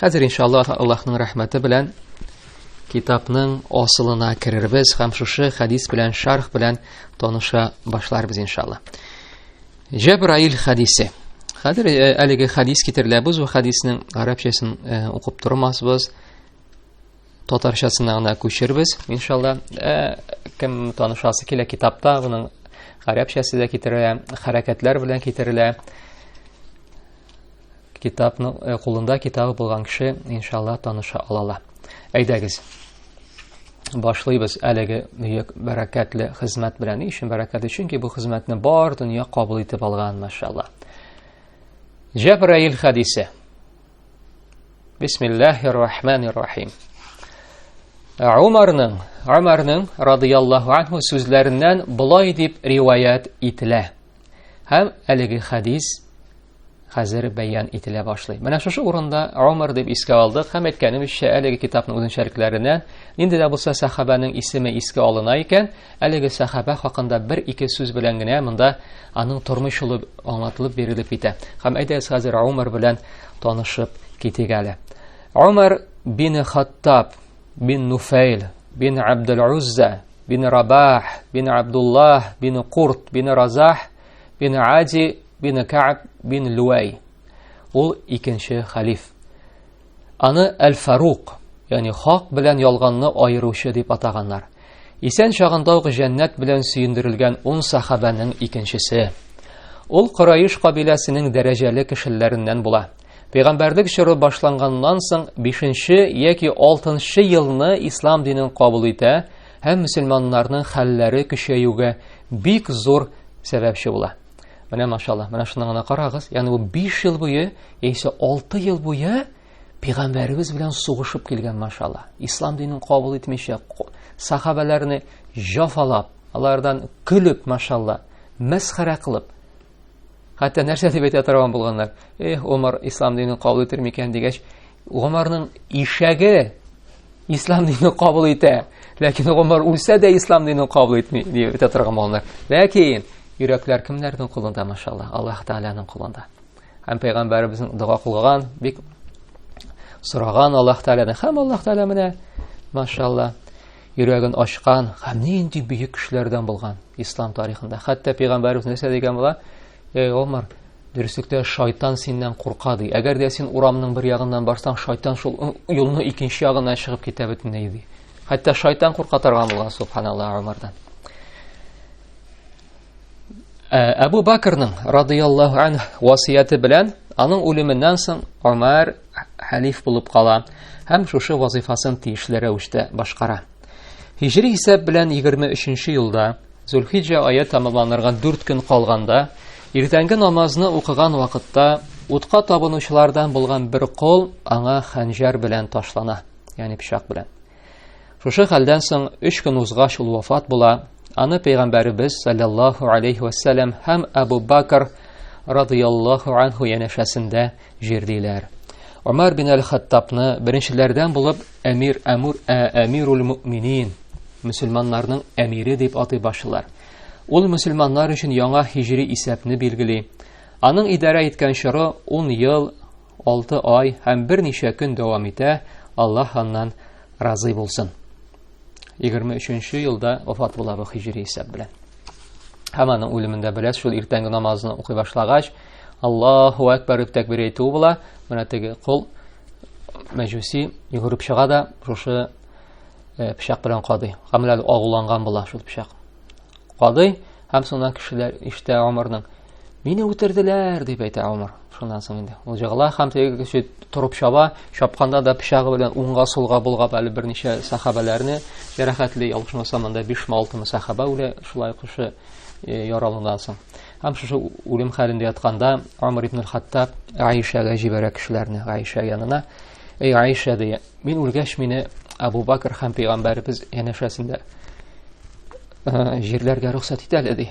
Хәзер иншаллах Аллаһның рәхмәте белән китапның асылына керербез һәм шушы хәдис белән шарх белән таныша башларбыз иншалла. Җәбраил хәдисе. Хәзер э, әлеге хәдис китерелә. Без бу хәдиснең гарәпчәсен э, укып тормасбыз. Татарчасына гына күчербез иншалла. Э, кем танышасы килә китапта, буның гарәпчәсе дә китерелә, хәрәкәтләр белән китерелә. Китапның э, кулында китабы булган кеше иншалла таныша алала. Әйдәгез. Башлыйбыз әлеге бөек бәрәкәтле хезмәт белән. Ни өчен бәрәкәт? Чөнки бу хезмәтне бар дөнья кабул итеп алган, машалла. Җәбраил хадисе. Бисмиллаһир рахманир рахим. Умарның, Умарның радияллаһу анһу сүзләреннән болай дип риваят ителә. Һәм әлеге хадис хәзер бәян ителә башлый. Менә шушы урында Омар дип искә алдык һәм әйткәнебезчә, әлеге китапның үзенчәлекләреннән нинди дә булса сахабәнең исеме искә алына икән, әлеге сахабә хакында бер-ике сүз белән генә монда аның тормыш юлы аңлатылып бирелеп китә. Һәм әйдәгез хәзер Омар белән танышып китик әле. Омар бин Хаттаб бин Нуфайл бин Абдул Узза бин Рабах бин Абдуллах бин Курт бин Разах бин Ади бин Кааб бин Луай. Ул икенче халиф. Аны Әл-Фарук, ягъни хак белән ялганны аеручы дип атаганнар. Исән чагында ук җәннәт белән сөендерелгән ун сахабәнең икенчесе. Ул Кораиш кабиләсенең дәрәҗәле кешеләреннән була. Пәйгамбәрлек чоры башланганнан соң 5-нче яки 6-нчы елны ислам динен кабул итә һәм мөселманнарның хәлләре көчәюгә бик зур сәбәпче була. Менә машалла, менә шуны гына карагыз, ягъни бу 5 ел буе, яисә 6 ел буе пәйгамбәребез белән сугышып килгән машалла. Ислам динен кабул итмичә, сахабаларны җафалап, алардан көлеп машалла, мәсхәрә кылып. Хәтта нәрсә дип әйтә торган булганнар. Эх, Умар ислам динен кабул итер микән дигәч, Умарның ишәге ислам динен кабул итә ләкин гомер үлсә дә ислам динен кабул итми дип әйтә торган маллар ләкин йөрәкләр кемнәрнең кулында машалла аллаһ тәгаләнең кулында һәм пәйгамбәребезнең дога кылган бик сораган аллаһ тәгаләдән һәм аллаһ тәгалә менә машалла йөрәген ачкан һәм нинди бөек кешеләрдән булган ислам тарихында хәтта пәйгамбәребез нәрсә дигән була Эй, Омар, дөреслектә шайтан синнән курка, ди. Әгәр дә син урамның бер ягыннан барсаң, шайтан шул юлны икенче ягына чыгып китә бөтенләй, ди. Хәтта шайтан курка торган булган, субханаллаһ, Омардан. Әбу Бакрның радияллаһу анһ васыяте белән аның үлеменнән соң Омар халиф булып кала һәм шушы вазифасын тиешле рәвештә башкара. Һижри исәп белән 23 елда, Зөлхиҗә ае тамамланырга 4 көн калганда, иртәнге намазны укыган вакытта утка табынучылардан булган бер кол аңа хәнҗәр белән ташлана, ягъни пычак белән. Шушы хәлдән соң 3 көн узгач ул вафат була. Аны пәйгамбәребез саллаллаху алейхи ва һәм Абу Бакр радыйаллаху анху янәшәсендә Җирдиләр. Омар бин әл-Хаттабны беренчеләрдән булып әмир әмур ә, әмирул мөминин, мөселманнарның әмире дип атый башлар. Ул мөселманнар өчен яңа хиҗри исәпне билгели. Аның идарә иткән чоры 10 ел, 6 ай һәм берничә көн дәвам итә. Аллаһ аннан разый булсын. 23 елда вафат була бу хиҗри исәп белән. Һәм аның үлемендә беләс шул иртәнге намазны укый башлагач, Аллаһу әкбәр дип тәкбир әйтүе була. Менә теге кол мәҗүси йөгереп чыга да шушы э, пычак белән кадый. Камләл агуланган була шул пычак. Кадый һәм соннан кешеләр иштә Омарның Мине үтерделәр, дип әйтә Омар. Шуннан соң инде ул җыгыла һәм теге кеше торып чаба, чапканда да пычагы белән уңга сулга булгап әле берничә сахабәләрне ярахәтле ялгышмаса монда 5 ме 6 ме сахаба үлә шулай кеше э, яралудан соң. Һәм шушы үлем хәлендә ятканда Омар ибн Хаттаб Аишәгә җибәрә кешеләрне, Аиша янына. Эй Аиша дия, мин үлгәч мине Абу Бакр һәм пәйгамбәрбез янәшәсендә э, җирләргә рөхсәт итәле ди.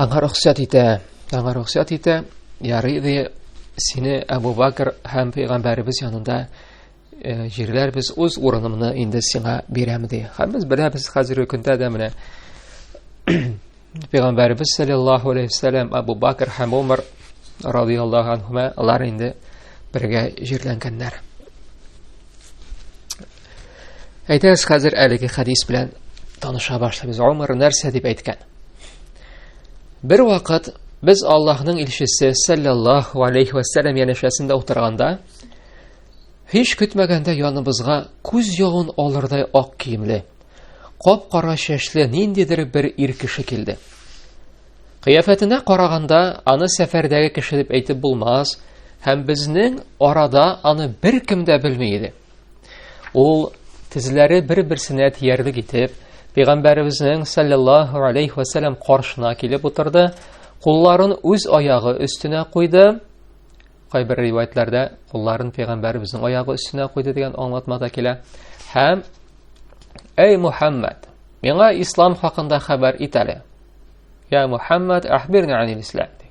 Аңа рөхсәт итә, аңа рөхсәт итә, ярый ди, сине Әбу Бакр һәм пәйгамбәребез янында э, җирләр без үз урынымны инде сиңа бирәм ди. Һәм без беләбез хәзерге көндә дә менә пәйгамбәребез саллаллаһу алейхи вассалам Әбу Бакр һәм Умар радиаллаһу анһума алар инде бергә җирләнгәннәр. Әйдәгез хәзер әлеге хәдис белән таныша башлыйбыз. Умар нәрсә дип әйткән? Бер вакыт без Аллаһның илчесе саллаллаһу алейхи ва саллям янәшәсендә утырганда, һич көтмәгәндә яныбызга күз ягын алырдай ак киемле, кап-кара чәчле ниндидер бер ир кеше килде. Кыяфәтенә караганда, аны сәфәрдәге кеше дип әйтеп булмас, һәм безнең арада аны беркем дә белми иде. Ул тезләре бер-берсенә тиярлек итеп, Пәйгамбәребезнең саллаллаһу алейхи ва саллям каршына килеп утырды, кулларын үз аягы өстенә куйды. Кайбер риваятьләрдә кулларын Пәйгамбәребезнең аягы өстенә куйды дигән аңлатма да килә. Һәм Эй Мухаммад, миңа ислам хакында хәбәр ит әле. Я Мухаммад, ахбирни анил ислам.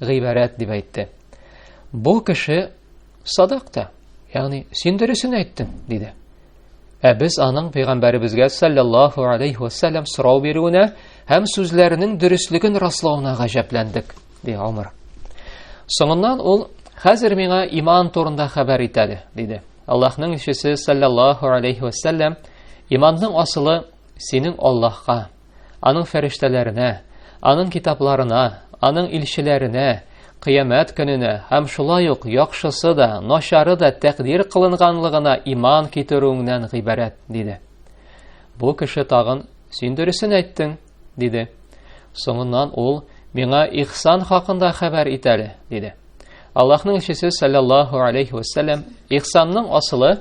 гыйбарәт дип әйтте. Бу кеше садак та, ягъни син дөресен әйттең, диде. Ә без аның пәйгамбәребезгә саллаллаһу алейхи ва саллям сорау бирүенә һәм сүзләренең дөреслеген раслауына гаҗәпләндек, ди Умар. Соңыннан ул хәзер миңа иман турында хәбәр итәле, диде. Аллаһның илчесе саллаллаһу алейхи ва саллям иманның асылы синең Аллаһка, аның фәрештәләренә, аның китапларына, аның илчеләренә, кыямәт көненә һәм шулай ук яхшысы да, начары да тәкъдир кылынганлыгына иман китерүеңнән гыйбарәт, диде. Бу кеше тагын, син дөресен әйттең, диде. Соңыннан ул, миңа ихсан хакында хәбәр ит әле, диде. Аллаһның илчесе саллаллаху алейхи ва саллям, ихсанның асылы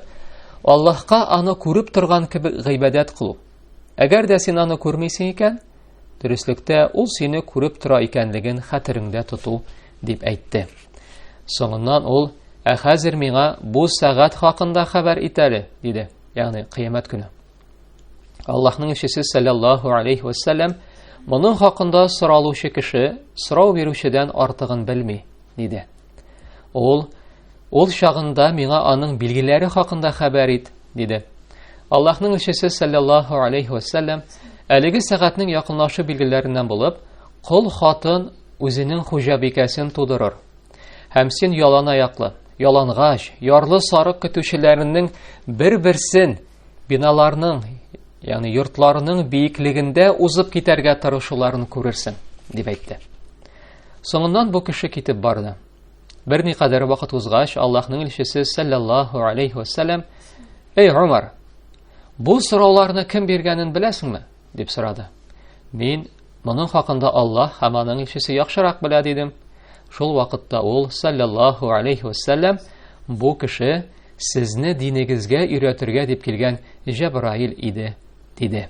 Аллаһка аны күреп торган кебек гыйбадәт кылу. Әгәр дә син аны күрмисең икән, дөреслектә ул сине күреп тора икәнлеген хәтереңдә тоту, дип әйтте. Соңыннан ул, ә хәзер миңа бу сәгать хакында хәбәр ит әле, диде, ягъни кыямәт көне. Аллаһның илчесе саллаллаху алейхи ва саллям моның хакында соралучы кеше сорау бирүчедән артыгын белми. диде. Ул, ул чагында миңа аның билгеләре хакында хәбәр ит, диде. Аллаһның илчесе саллаллаһу алейхи ва саллям әлеге сәгатьнең якынлашу билгеләреннән булып, кол хатын үзенең хуҗабикәсен тудырыр. Һәм син ялан аяклы, ялангач, ярлы сарык көтүчеләренең бер-берсен биналарның, ягъни йортларының биеклегендә узып китәргә тырышуларын күрерсең, дип әйтте. Соңыннан бу кеше китеп барды. Бер никадәр вакыт узгач, Аллаһның илчесе саллаллаһу алейхи ва саллям: "Эй, Умар, бу сорауларны кем биргәнен беләсеңме?" дип сорады. Мин моның хакында Аллаһ һәм аның илчесе яхшырак белә дидем. Шул вакытта ул саллаллаһу алейхи ва саллям: "Бу кеше сезне динегезгә өйрәтергә дип килгән Җәбраил иде", диде.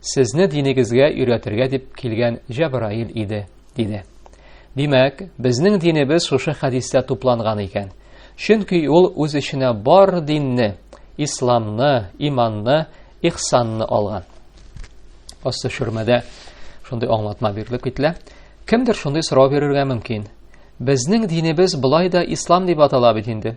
Сезне динегезгә өйрәтергә дип килгән Җәбраил иде, диде. Димәк, безнең динебез шушы хәдистә тупланган икән. Чөнки ул үз эченә бар динне, исламны, иманны, ихсанны алган. Асты шөрмәдә шундый аңлатма бирелеп кителә. Кемдер шундый сорау бирергә мөмкин. Безнең динебез болай да ислам дип атала бит инде.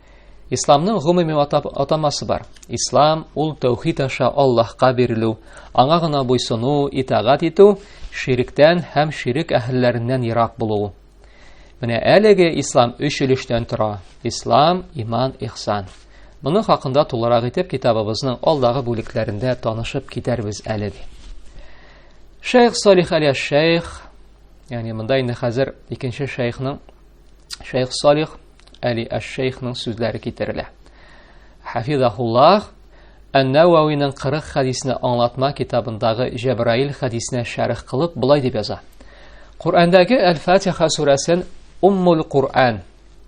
Исламның гомуми атамасы бар. Ислам ул тәүхид аша Аллаһка бирелү, аңа гына буйсыну, итагать итү, ширектән һәм ширек әһелләреннән ерак булу. Менә әлеге ислам өч өлештән тора. Ислам, иман, ихсан. Моны хакында тулырак итеп китабыбызның алдагы бүлекләрендә танышып китәрбез әле. Шейх Салих Алия Шейх, ягъни монда инде хәзер икенче шейхның Шейх Салих Әли Әш-Шейхның сүзләре китерелә. Хафизахуллах Ән-Навауиның 40 хадисне аңлатма китабындагы Җәбраил хадисенә шәрх кылып былай дип яза. Коръәндәге Әл-Фатиха сүрәсен Уммул Коръән,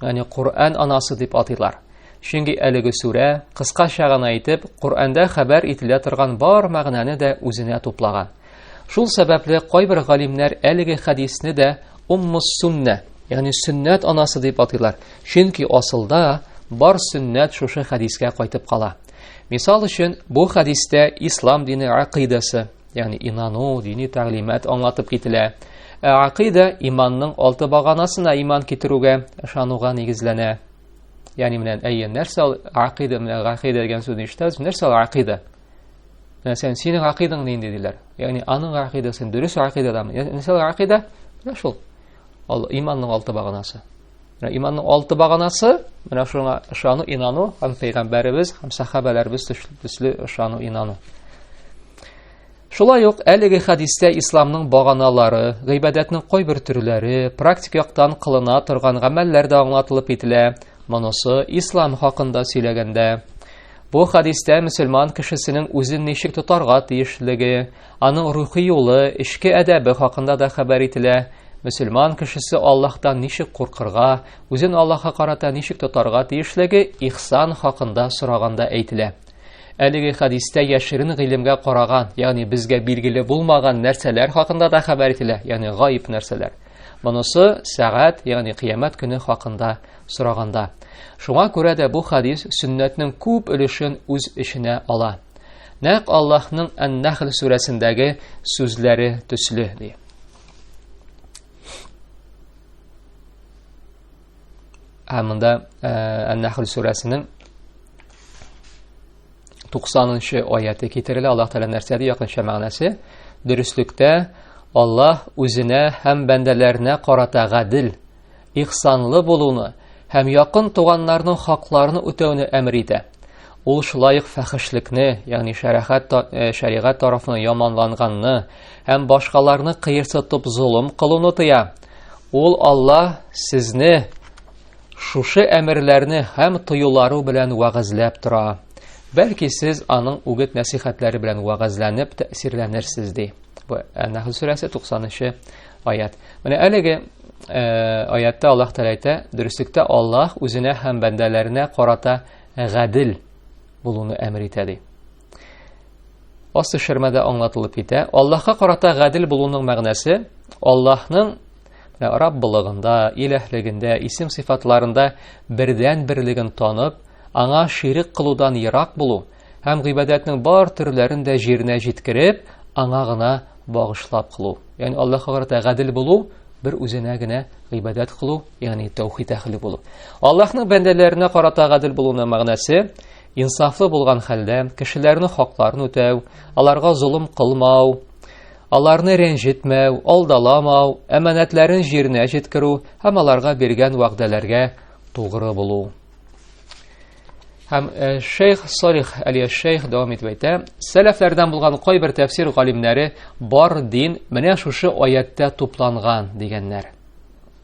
ягъни Коръән анасы дип атыйлар. Чөнки әлеге сүрә, кыскача гына әйтеп, Коръәндә хәбәр ителә торган бар мәгънәне дә үзенә туплаган. Шул сәбәпле кайбер галимнәр әлеге хәдисне дә уммус сунна, ягъни сөннәт анасы дип атыйлар. Чөнки асылда бар сөннәт шушы хәдискә кайтып кала. Мисал өчен, бу хәдистә ислам дине акыйдасы, ягъни инану, дини тәгълимат аңлатып кителә. Ә акыйда иманның алты баганасына иман китерүгә, ышануга нигезләнә. Ягъни менә әйе, нәрсә ул акыйда, менә акыйда дигән сүзне ишетәбез, нәрсә ул акыйда? Мәсәлән, синең гакыйдаң нинди диләр? Ягъни аның гакыйдасын дөрес гакыйдадамы? Мәсәлән, гакыйда менә шул. Ал иманның алты баганасы. Менә иманның алты баганасы, менә шуңа ышану, инану, һәм пәйгамбәребез һәм сахабаларыбыз төсле ышану, инану. Шулай ук әлеге хәдистә исламның баганалары, гыйбадәтнең кайбер төрләре, практик яктан кылына торган гамәлләр дә аңлатылып кителә. Монысы ислам хакында сөйләгәндә Бу хадистә мөселман кешесенең үзен ничек тотарга тиешлеге, аның рухи юлы, эчке әдәбе хакында да хәбәр ителә. Мөселман кешесе Аллаһтан ничек куркырга, үзен Аллаһка карата ничек тотарга тиешлеге ихсан хакында сораганда әйтелә. Әлеге хадистә яшерен гыйлемгә караган, ягъни безгә билгеле булмаган нәрсәләр хакында да хәбәр ителә, ягъни гаиб нәрсәләр. Монысы сәгать, ягъни кыямәт көне хакында сораганда. Шуңа күрә дә бу хадис сөннәтнең күп өлешен үз эченә ала. Нәк Аллаһның Ан-Нахл сүрәсендәге сүзләре төсле ди. Ә монда Ан-Нахл сүрәсенең 90-нчы аяты китерелә. Аллаһ Тәгалә нәрсә ди якынча мәгънәсе? Дөреслектә Аллаһ үзенә һәм бәндәләренә карата гадел, ихсанлы булуны һәм якын туганнарның хакларын үтәүне әмер итә. Ул шулай ук фәхешлекне, ягъни шәрәхәт э, шәригать тарафына яманланганны һәм башкаларны кыерсытып золым кылуны тыя. Ул Аллаһ сезне Шушы әмерләрне һәм тоюлары белән вәгазьләп тора. Бәлки сез аның үгет нәсихәтләре белән вәгазьләнеп тәэсирләнерсез ди. Бу Әнәхл сүрәсе 90-нчы аят. Менә әлеге э, аятта Аллаһ Тәгалә әйтә, дөреслектә Аллаһ үзенә һәм бәндәләренә карата гадел булуны әмер итә ди. Асы шермәдә аңлатылып китә. Аллаһка карата гадел булуның мәгънәсе Аллаһның Раббылыгында, иләһлегендә, исем сыйфатларында бердән берлеген танып, аңа ширек кылудан ерак булу һәм гыйбадәтнең бар төрләрен дә җиренә җиткереп, аңа гына багышлап кылу. Ягъни Аллаһка карата гадел булу бер үзенә генә гыйбадәт кылу, ягъни тәүхид әһле булу. Аллаһның бәндәләренә карата гадел булуның мәгънәсе Инсафлы булган хәлдә кешеләрнең хакларын үтәү, аларга золым кылмау, аларны рәнҗетмәү, алдаламау, әманәтләрен җиренә җиткерү һәм аларга биргән вәгъдәләргә тугры булу. Һәм э, шейх Салих Алия шейх дәвам итеп әйтә, сәләфләрдән булган кайбер тәфсир галимнәре бар дин менә шушы аяттә тупланган дигәннәр.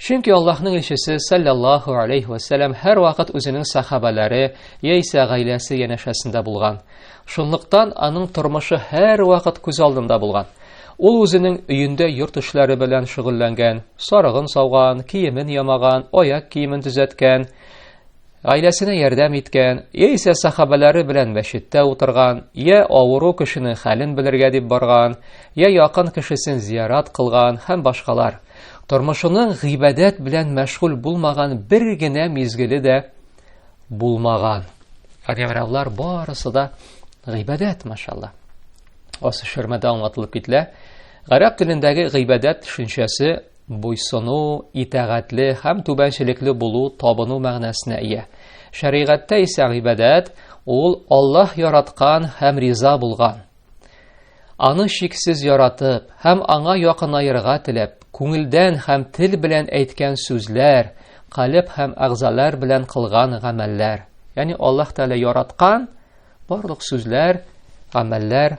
Чөнки Аллаһның илчесе саллаллаху алейхи ва саллям һәрвакыт үзенең сахабалары яисә гаиләсе янәшәсендә булган. Шунлыктан аның тормышы һәрвакыт күз алдында булган. Ул үзенең өендә йорт эшләре белән шөгыльләнгән, сарыгын сауган, киемен ямаган, аяк киемен төзәткән, Гаиләсенә ярдәм иткән, яисә сахабәләре белән мәчеттә утырган, я авыру кешенең хәлен белергә дип барган, я якын кешесен зиярат кылган һәм башкалар. Тормышының гыйбадәт белән мәшгуль булмаган бер генә мизгеле дә булмаган. Ягъни барысы да гыйбадәт, машалла. Асы шермәдә аңлатылып кителә. Гарәп телендәге гыйбадәт төшенчәсе Буйсыну, итәгатьле һәм түбәнчелекле булу табыну мәгънәсенә ия. Шәригатьтә исә гыйбадәт ул Аллаһ яраткан һәм риза булган. Аны шиксез яратып һәм аңа якынаерга теләп, күңелдән һәм тел белән әйткән сүзләр, калеб һәм әгъзалар белән кылган гамәлләр. Ягъни Аллаһ Тәгалә яраткан барлык сүзләр, гамәлләр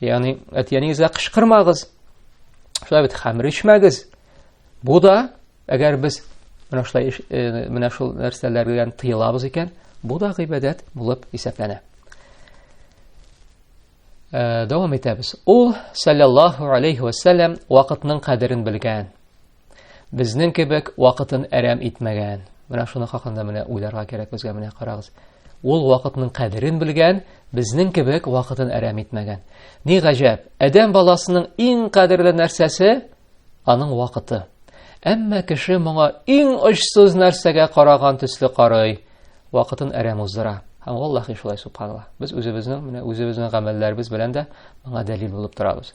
Ягъни, әтиәнигезгә кычкырмагыз. Шулай бит хәмер ичмәгез. Бу да, әгәр без менә шулай э, менә шул нәрсәләрдән тыелабыз икән, бу да гыйбадәт булып исәпләнә. Э, дәвам итәбез. Ул саллаллаһу алейхи ва саллям вакытның кадерен белгән. Безнең кебек вакытын әрәм итмәгән. Менә шуны хакында менә уйларга кирәк безгә менә карагыз. Ул вакытның кадерен белгән, безнең кебек вакытын әрәм итмәгән. Ни гаҗәп, адәм баласының иң кадерле нәрсәсе аның вакыты. Әмма кеше моңа иң очсыз нәрсәгә караган төсле карый, вакытын әрәм уздыра. Һәм Аллаһ шулай субханалла. Без үзебезнең менә үзебезнең гамәлләребез белән дә моңа дәлил булып торабыз.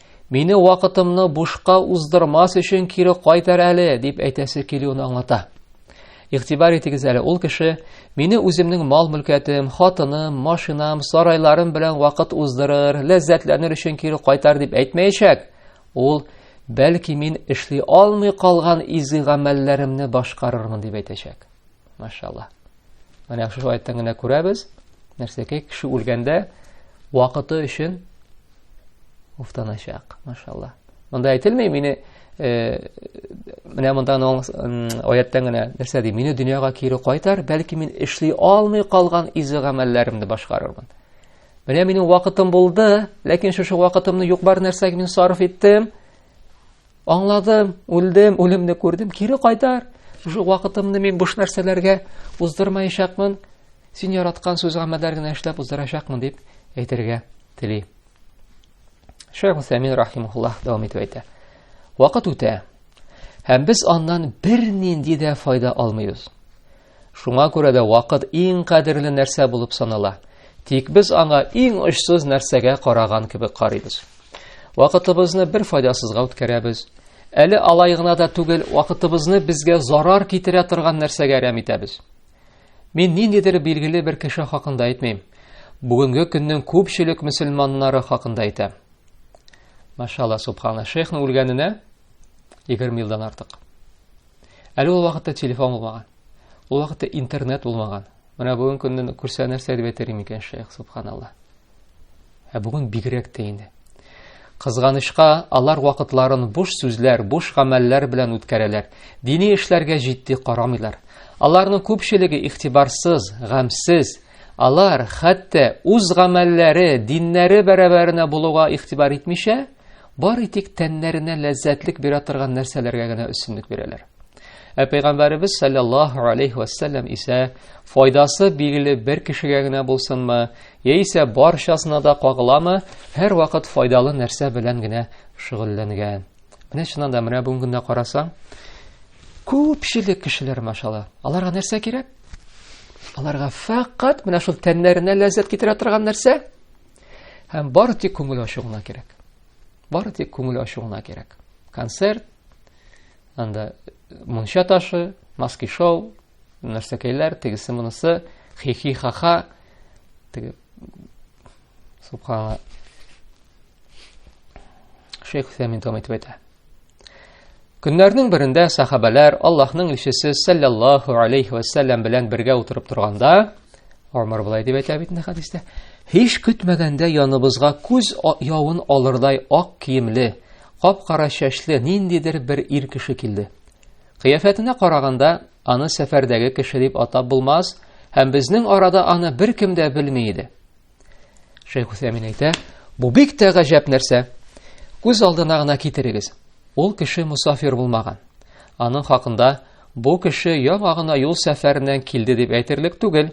Мине вакытымны бушка уздырмас өчен кире кайтар әле, дип әйтәсе килүен аңлата. Игътибар итегез әле, ул кеше мине үземнең мал-мөлкәтем, хатыным, машинам, сарайларым белән вакыт уздырыр, ләззәтләнер өчен кире кайтар дип әйтмәячәк. Ул бәлки мин эшли алмый калган изге гамәлләремне башкарырмын дип әйтәчәк. Машалла. Менә шушы аяттан гына күрәбез, нәрсәкәй кеше үлгәндә вакыты өчен уфтаначак. Машалла. Монда әйтелми, мине э, менә монда аяттан гына нәрсә ди? Мине дөньяга кире кайтар, бәлки мин эшли алмый калган изе гамәлләремне башкарырмын. Менә минем вакытым булды, ләкин шушы вакытымны юк бар нәрсәгә мин сарыф иттем. Аңладым, үлдем, үлемне күрдем, кире кайтар. Шул вакытымны мин буш нәрсәләргә уздырмаячакмын. Син яраткан сүз гамәлләр генә эшләп уздырачакмын дип әйтергә тели. Шәйх Усәмин рахимуллаһ дәвам итеп әйтә. Вакыт үтә. Һәм без аннан бернинди дә файда алмыйбыз. Шуңа күрә дә вакыт иң кадерле нәрсә булып санала. Тик без аңа иң очсыз нәрсәгә караган кебек карыйбыз. Вакытыбызны бер файдасызга үткәрәбез. Әле алай гына да түгел, вакытыбызны безгә зарар китерә торган нәрсәгә әрәм итәбез. Мин ниндидер билгеле бер кеше хакында әйтмим. Бүгенге көннең күпчелек мөселманнары хакында әйтәм. Машалла субхана, шейхның үлгәненә 20 елдан артык. Әле ул вакытта телефон булмаган. Ул вакытта интернет булмаган. Менә бүген көнне күрсә нәрсә дип әйтер микән шәйх, субханалла. Ә бүген бигрәк тә инде. Кызганычка, алар вакытларын буш сүзләр, буш гамәлләр белән үткәрәләр. Дини эшләргә җитди карамыйлар. Аларның күпчелеге ихтибарсыз, гамсез, алар хәтта үз гамәлләре, диннәре бәрабәренә булуга игътибар итмичә, Бары тик тәннәренә ләззәтлек бирә торган нәрсәләргә генә өстенлек бирәләр. Ә пәйгамбәребез саллаллаһу алейхи вәссәләм исә файдасы билгеле бер кешегә генә булсынмы, яисә барчасына да кагыламы, һәрвакыт файдалы нәрсә белән генә шөгыльләнгән. Менә чыннан да менә бүгенге көндә карасаң, күпчелек кешеләр машалла, аларга нәрсә кирәк? Аларга фәкать менә шул тәннәренә ләззәт китерә торган нәрсә, Һәм бары тик күңел ачу гына кирәк. Бары тик күңел ачу гына кирәк. Концерт, анда мунча ташы, маски шоу, нәрсәкәйләр, тегесе монысы, хихи хаха, теге субханала. Шейх Фәмин тәм әйтә. Көннәрнең берендә сахабәләр Аллаһның илчесе саллаллаху алейхи ва саллям белән бергә утырып торганда, Омар булай дип әйтә бит инде хадистә, һич көтмәгәндә яныбызга күз явын алырдай ак киемле, кап-кара чәчле ниндидер бер ир кеше килде. Кыяфәтенә караганда, аны сәфәрдәге кеше дип атап булмас, һәм безнең арада аны беркем дә белми иде. Шәйх Усәмин әйтә, бу бик тә гаҗәп нәрсә. Күз алдына гына китерегез. Ул кеше мусафир булмаган. Аның хакында бу кеше яңа гына юл сәфәреннән килде дип әйтерлек түгел.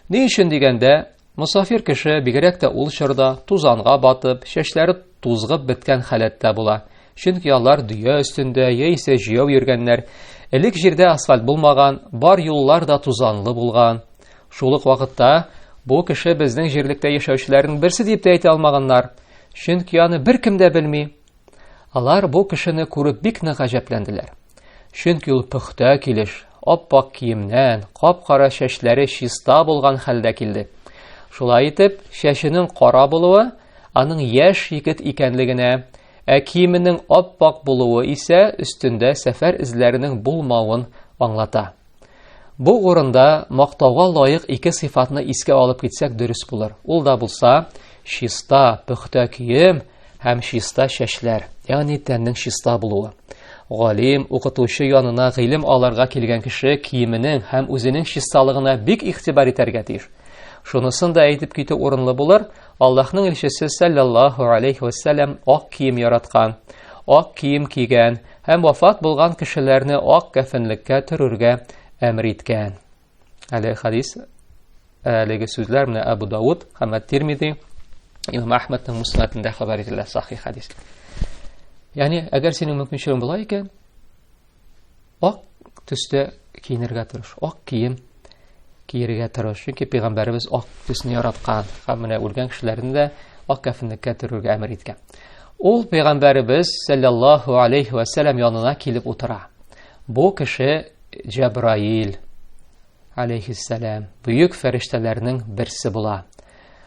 Ни өчен дигәндә, мусафир кеше бигрәк тә ул чорда тузанга батып, чәчләре тузгып беткән халәттә була. Чөнки алар дөя өстендә яисә җәяү йөргәннәр. Элек җирдә асфальт булмаган, бар юллар да тузанлы булган. Шул ук вакытта бу кеше безнең җирлектә яшәүчеләрнең берсе дип тә әйтә алмаганнар, чөнки аны беркем дә белми. Алар бу кешене күреп бик нык гаҗәпләнделәр. Чөнки ул пөхтә килеш, ап-ак киемнән, кап-кара чәчләре чиста булган хәлдә килде. Шулай итеп, чәченең кара булуы аның яшь егет икәнлегенә, ә киеменең ап-ак булуы исә өстендә сәфәр эзләренең булмавын аңлата. Бу урында мактауга лаек ике сыйфатны искә алып китсәк дөрес булыр. Ул да булса, чиста пөхтә кием һәм чиста чәчләр, ягъни тәннең чиста булуы. Галим, укытучы янына гыйлем алырга килгән кеше киеменең һәм үзенең чисталыгына бик игътибар итәргә тиеш. Шунысын да әйтеп китү урынлы булыр, Аллаһның илчесе саллаллаһу алейхи вәссәлам ак кием яраткан, ак кием кигән, Һәм вафат булган кешеләрне ак кәфенлеккә төрергә әмер иткән. Әле хадис әлеге сүзләр менә Абу Дауд һәм Тирмиди Имам Ахмадның муснатында хәбәр ителә сахи хадис. Ягъни, әгәр синең мөмкинчелегең була икән, ак төстә киенергә тырыш, ак кием киерергә тырыш. Чөнки пәйгамбәребез ак төсне яраткан һәм менә үлгән кешеләрне дә ак кәфенлеккә төрергә әмер иткән. Ул пәйгамбәребез саллаллаһу алейхи ва саллям янына килеп утыра. Бу кеше Җәбраил алейхиссалам, бөек фәрештәләрнең берсе була.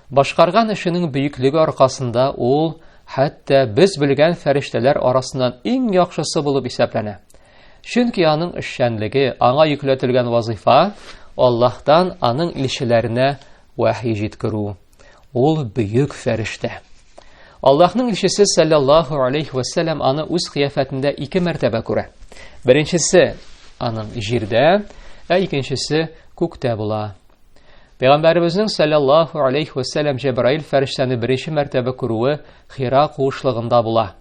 Башкарган эшенең бөеклеге аркасында ул хәтта без белгән фәрештәләр арасыннан иң яхшысы булып исәпләнә. Чөнки аның эшчәнлеге, аңа йөкләтелгән вазыйфа Аллаһтан аның илчеләренә вәхи җиткерү. Ул бөек фәрештә. Аллаһның илчесе саллаллаһу алейхи ва саллям аны үз кыяфәтендә ике мәртәбә күрә. Беренчесе аның җирдә, ә икенчесе күктә була. Пәйгамбәребезнең саллаллаһу алейхи ва саллям Җәбраил фәрештәне беренче мәртәбә күрүе Хира куышлыгында була.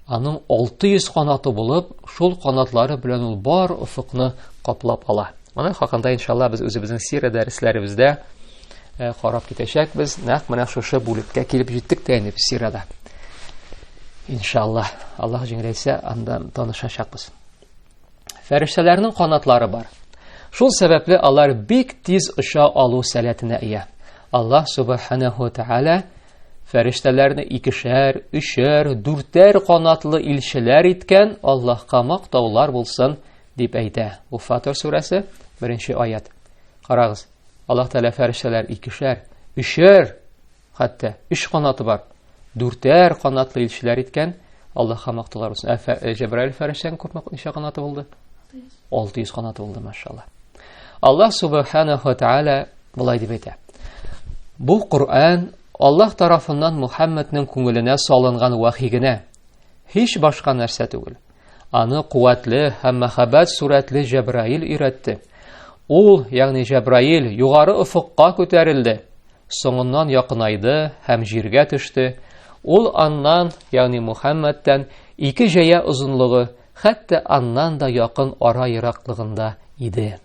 Аның 600 канаты булып, шул канатлары белән ул бар офыкны каплап ала. Моның хакында иншалла без үзебезнең сирә дәресләребездә э, карап китәчәкбез. Нәкъ менә шушы бүлеккә килеп җиттек тә инде сирәдә. Иншалла, Аллаһ җиңеләйсә, анда танышачакбыз. Фәрештәләрнең канатлары бар. Шул сәбәпле алар бик тиз оча алу сәләтенә ия. Аллаһ субханаһу тааля фәрештәләрне икешәр, өчәр, дүртәр канатлы илчеләр иткән, Аллаһка мактаулар булсын, дип әйтә. Бу Фатир сүрәсе, беренче аят. Карагыз, Аллаһ Тәгалә фәрештәләр икешәр, өчәр Хәтта өч канаты бар. Дүртәр канатлы илчеләр иткән. Аллаһка мактылар булсын. Ә э, Җәбраил фәрәштән күпме ничә канаты булды? 600 канаты булды, машалла. Аллаһ субханаһу ва тааля булай дип әйтә. Бу Коръән Аллаһ тарафыннан Мухаммадның күңеленә салынган вахи генә, һич башка нәрсә түгел. Аны куәтле һәм мәхәббәт сурәтле Җәбраил өйрәтте. Ул, ягъни Җәбраил, югары офыкка күтәрелде, соңыннан якынайды һәм җиргә төште. Ул аннан, ягъни Мухәммәдтән, ике җәя озынлыгы, хәтта аннан да якын ара ераклыгында иде.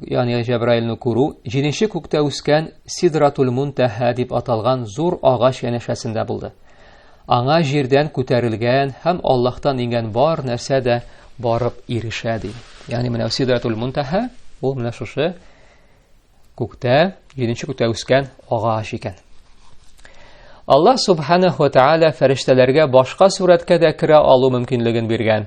ягъни Җәбраилне күрү, җиденче күктә үскән Сидратул Мунтәһә дип аталган зур агач янәшәсендә булды. Аңа җирдән күтәрелгән һәм Аллаһтан иңгән бар нәрсә дә барып ирешә ди. Ягъни менә Сидратул Мунтәһә ул менә шушы күктә, җиденче күктә үскән агач икән. Аллаһ субханаһу ва тааля фәрештәләргә башка сурәткә дә керә алу мөмкинлеген биргән.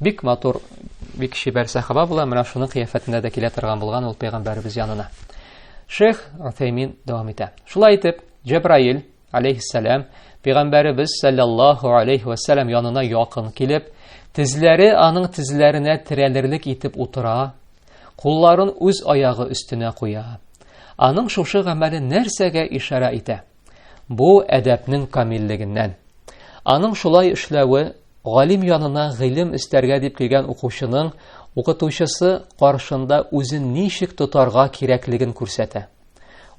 Бик матур, бик чибәр сәхаба була, менә шуның кыяфәтендә дә килә торган булган ул пәйгамбәребез янына. Шейх Утәймин дәвам итә. Шулай итеп, Җәбраил алейһиссалам пәйгамбәребез саллаллаһу алейһи ва саллям янына якын килеп, тезләре аның тезләренә терәлерлек итеп утыра, кулларын үз аягы өстенә куя. Аның шушы гамәле нәрсәгә ишарә итә? Бу әдәпнең камиллегеннән. Аның шулай эшләве галим янына гыйлем эстәргә дип килгән укучының укытучысы каршында үзен ничек тотарга кирәклеген күрсәтә.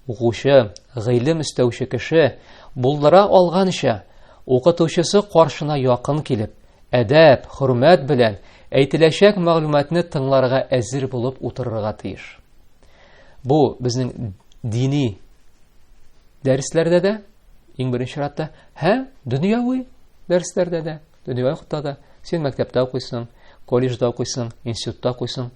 Укучы, гыйлем эстәүче кеше булдыра алганча, укытучысы каршына якын килеп, әдәп, хөрмәт белән әйтеләчәк мәгълүматны тыңларга әзер булып утырырга тиеш. Бу безнең дини дәресләрдә дә иң беренче чиратта һәм дөньяви дәресләрдә дә дөньяви вакытта да син мәктәптә укыйсың колледжда укыйсың институтта укыйсың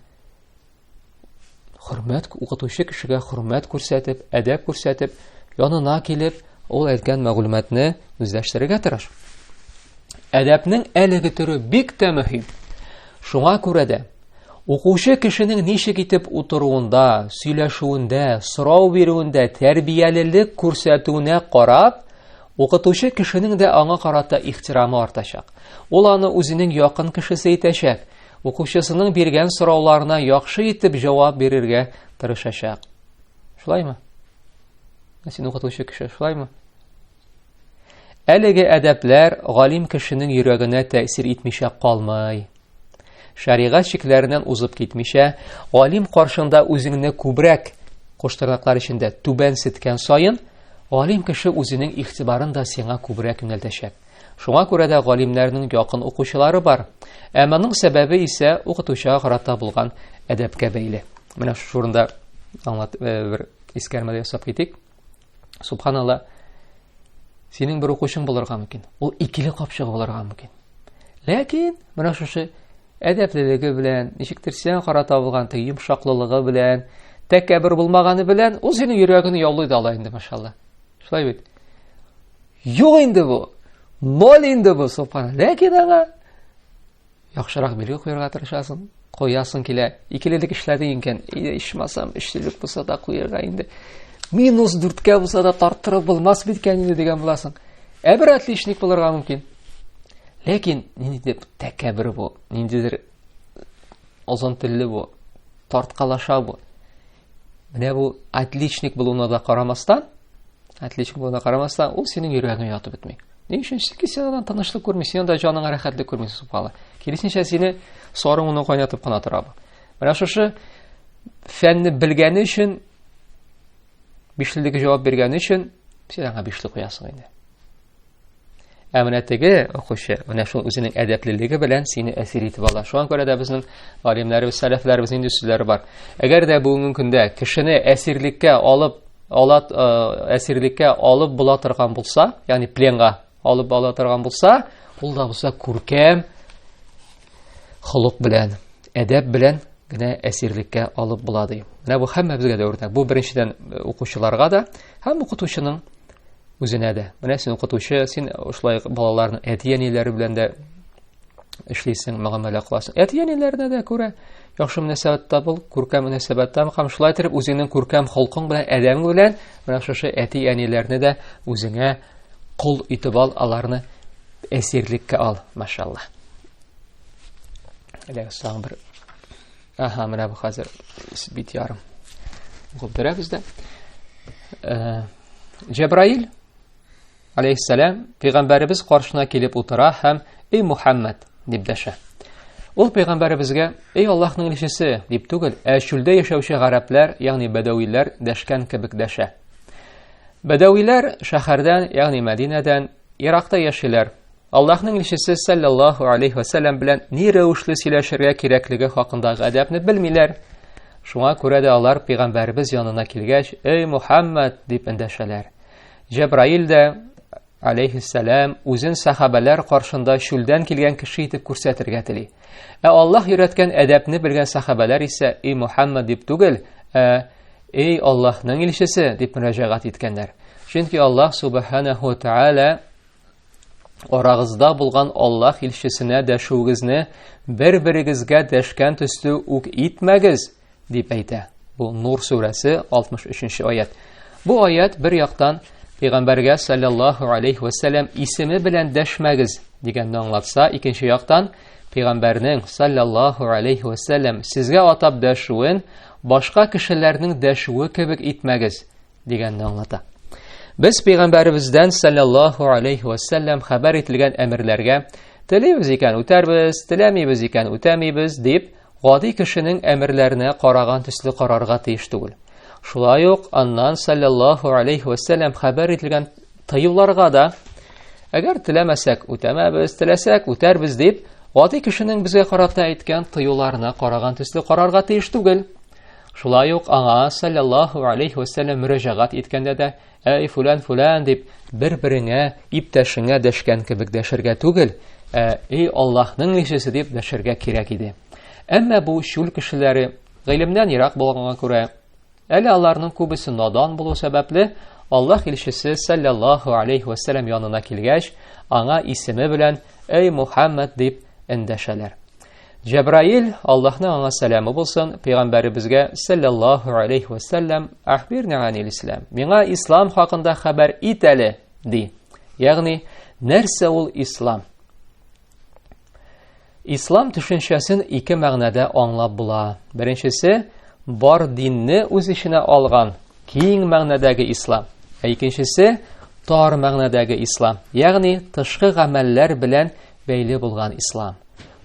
хөрмәт укытучы кешегә хөрмәт күрсәтеп әдәп күрсәтеп янына килеп ул әйткән мәгълүматны үзләштерергә тырыш әдәпнең әлеге төре бик тә мөһим шуңа күрә дә Укучы кешенең ничек итеп утыруында, сөйләшүендә, сорау бирүендә, тәрбиялелек күрсәтүенә карап, укытучы кешенең дә аңа карата ихтирамы артачак. Ул аны үзенең якын кешесе итәчәк, укучысының биргән сорауларына яхшы итеп җавап бирергә тырышачак. Шулаймы? Син укытучы кеше, шулаймы? Әлеге әдәпләр галим кешенең йөрәгенә тәэсир итмичә калмый. Шәригать чикләреннән узып китмичә, галим каршында үзеңне күбрәк куштырнаклар эчендә түбән сеткән саен, галим кеше үзенең игътибарын да сиңа күбрәк юнәлтәчәк. Шуңа күрә дә галимнәрнең якын укучылары бар. Ә моның сәбәбе исә укытучыга карата булган әдәпкә бәйле. Менә шушында аңлат э, бер искәрмәдә ясап китик. Субханалла, синең бер укучың булырга мөмкин. Ул икеле капчыгы булырга мөмкин. Ләкин менә шушы әдәплелеге белән, ничектер сиңа кара табылган теге йомшаклылыгы белән, тәкәббер булмаганы белән, ул синең йөрәгеңне яулый да ала инде, машалла. Шулай бит. Юк инде бу. Ноль инде бу, субханалла. Ләкин аңа Яхшырак билге куярга тырышасың, куясың килә. Икелелек эшләдең икән, ичмасам, өчлелек булса да куярга инде. Минус дүрткә булса да тарттырып булмас биткән инде дигән буласың. Ә бер отличник булырга мөмкин. Ләкин ниндидер тәкәбер бу, ниндидер озын телле бу, тарткалаша бу. Менә бу отличник булуына да карамастан, отличник булуына карамастан, ул синең йөрәгеңә ятып бетми. Ни өчен? Чөнки син аннан тынычлык күрмисең, анда җаныңа рәхәтлек күрмисең сукалы. Киресенчә сине сорың уны кайнатып кына тора бу. Менә шушы фәнне белгәне өчен бишлеге җавап биргәне өчен син аңа бишле куясың инде. Ә менә теге укучы, менә шул үзенең әдәплелеге белән сине әсир итеп ала. Шуңа күрә дә безнең галимнәребез, сәләфләребез нинди сүзләре бар. Әгәр дә бүгенге көндә кешене әсирлеккә алып, ала э, әсирлеккә алып була торган булса, ягъни пленга алып була торган булса, ул да булса күркәм холык белән, әдәп белән генә әсирлеккә алып була ди. Менә бу һәммәбезгә дә үрнәк. Бу беренчедән э, укучыларга да һәм укытучының үзенә дә. Менә син укытучы, син шулай балаларның әти-әниләре белән дә эшлисең, мөгамәлә кыласың. Әти-әниләренә дә күрә яхшы мөнәсәбәттә бул, күркәм мөнәсәбәттә бул һәм шулай итеп үзеңнең күркәм холкың белән, әдәбең белән менә шушы әти-әниләрне дә үзеңә кул итеп ал, аларны әсирлеккә ал, машалла. Әле соң бер Аһа, менә бу хәзер бит ярым. Губдырабыз да. Э, Җәбраил алейһиссәлам пәйгамбәребез каршына килеп утыра һәм "Эй Мухаммад" дип дәшә. Ул пәйгамбәребезгә "Эй Аллаһның илчесе" дип түгел, ә чүлдә яшәүче гарәпләр, ягъни бәдәвиләр дәшкән кебек дәшә. Бәдәвиләр шәһәрдән, ягъни Мәдинәдән, Иракта яшиләр. Аллаһның илчесе саллаллаһу алейхи ва саллям белән ни рәвешле сөйләшергә кирәклеге хакындагы әдәпне белмиләр. Шуңа күрә дә алар пәйгамбәрбез янына килгәч, "Эй Мухаммад" дип эндәшәләр. Җәбраил дә алейхиссалам үзен сахабәләр каршында чүлдән килгән кеше итеп күрсәтергә тели. Ә Аллаһ өйрәткән әдәпне белгән сахабәләр исә "Эй Мухаммад" дип түгел, ә "Эй Аллаһның илчесе" дип мөрәҗәгать иткәннәр. Чөнки Аллаһ субханаһу ва тааля Арагызда булган Аллаһ илчесенә дәшүегезне бер-берегезгә дәшкән төсле үк итмәгез, дип әйтә. Бу Нур сүрәсе 63-нче аят. Бу аят бер яктан Пәйгамбәргә саллаллаһу алейхи ва саллям исеме белән дәшмәгез дигәнне аңлатса, икенче яктан Пәйгамбәрнең саллаллаһу алейхи ва саллям сезгә атап дәшүен башка кешеләрнең дәшүе кебек итмәгез дигәнне аңлата. Без пәйгамбәребездән саллаллаһу алейхи ва саллям хәбәр ителгән әмерләргә телибез икән үтәрбез, теләмибез икән үтәмибез дип, гади кешенең әмерләренә караган төсле карарга тиеш түгел. Шулай ук аннан саллаллаһу алейхи ва саллям хәбәр ителгән тыюларга да әгәр теләмәсәк үтәмәбез, теләсәк үтәрбез дип, гади кешенең безгә карата әйткән тыюларына караган төсле карарга тиеш түгел. Шулай ук аңа саллаллаху алейхи вәсәлләм мөрәҗәгать иткәндә дә, әй фулан фулан дип бер-береңә, иптәшеңә дәшкән кебек дәшергә түгел, ә эй Аллаһның илчесе дип дәшергә кирәк иде. Әмма бу чүл кешеләре гыйлемнән ерак булганга күрә, әле аларның күбесе надан булу сәбәпле, Аллаһ илчесе саллаллаху алейхи вәсәлләм янына килгәч, аңа исеме белән әй Мухаммад дип эндәшәләр. Җәбраил, Аллаһның аңа сәламе булсын, пәйгамбәребезгә саллаллаһу алейхи ва саллям, "Ахбирни анил ислам". Миңа ислам хакында хәбәр ит әле, ди. Ягъни, нәрсә ул ислам? Ислам төшенчәсен ике мәгънәдә аңлап була. Беренчесе, бар динне үз эченә алган киң мәгънәдәге ислам. Ә икенчесе, тар мәгънәдәге ислам. Ягъни, тышкы гамәлләр белән бәйле булган ислам.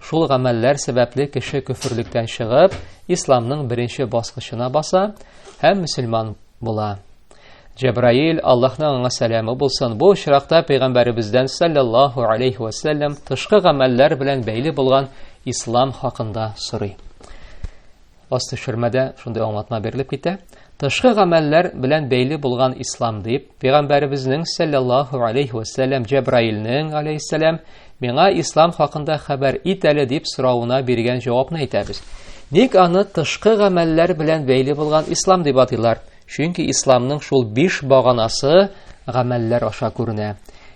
Шул гамәлләр сәбәпле кеше көферлектән чыгып, исламның беренче баскычына баса һәм мөселман була. Җәбраил, Аллаһның аңа сәламе булсын, бу очракта пәйгамбәребездән саллаллаһу алейхи ва саллям тышкы гамәлләр белән бәйле булган ислам хакында сорый. Аз төшермәдә шундый аңлатма берилеп китә. Тышкы гамәлләр белән бәйле булган ислам дип, пәйгамбәребезнең саллаллаһу алейхи ва саллям Җәбраилнең алейһиссалам миңа ислам хакында хәбәр ит әле дип соравына биргән җавапны әйтәбез. Ник аны тышкы гамәлләр белән бәйле булган ислам дип атыйлар? Чөнки исламның шул биш баганасы гамәлләр аша күренә.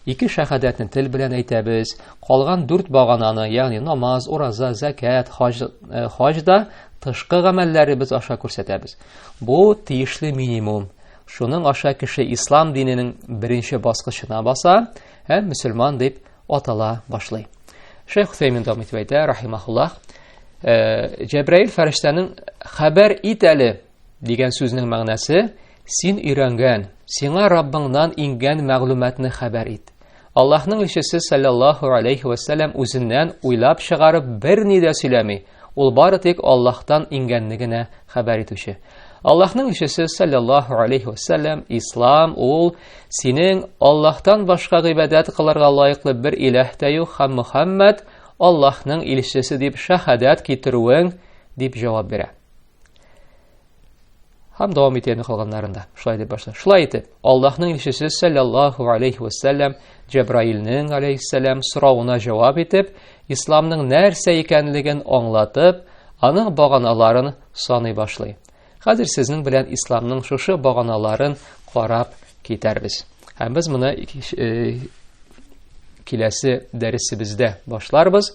Ике шәһадәтне тел белән әйтәбез, калган дүрт багананы, ягъни намаз, ураза, зәкәт, хаҗ, э, хаҗ да тышкы гамәлләребез аша күрсәтәбез. Бу тиешле минимум. Шуның аша кеше ислам диненең беренче баскычына баса һәм мөселман дип атала башлый. Шейх Хусеймин дәвам итеп әйтә, рахимахуллах, э, Җәбраил фәрештәнең хәбәр ит әле Дигән сүзнең мәгънәсе син өйрәнгән, сиңа Раббыңнан иңгән мәгълүматны хәбәр ит. Аллаһның илчесе саллаллаһу алейхи ва саллям үзеннән уйлап чыгарып берни дә сөйләми. Ул бары тик Аллаһтан иңгәнне генә хәбәр итүче. Аллаһның илчесе саллаллаһу алейхи ва саллям, ислам ул синең Аллаһтан башка гыйбадәт кылырга лаеклы бер иләһ тә юк һәм Мухаммад Аллаһның илчесе дип шәһадәт китерүең дип җавап бирә. Һәм дәвам итә инде калганнарында. Шулай дип башлый. Шулай итеп, Аллаһның илчесе саллаллаху алейхи вәсәлләм Җәбраилнең алейхиссәлам соравына җавап итеп, исламның нәрсә икәнлеген аңлатып, аның баганаларын саный башлый. Хәзер сезнең белән исламның шушы баганаларын карап китәрбез. Һәм без моны э, киләсе дәресебездә башларбыз.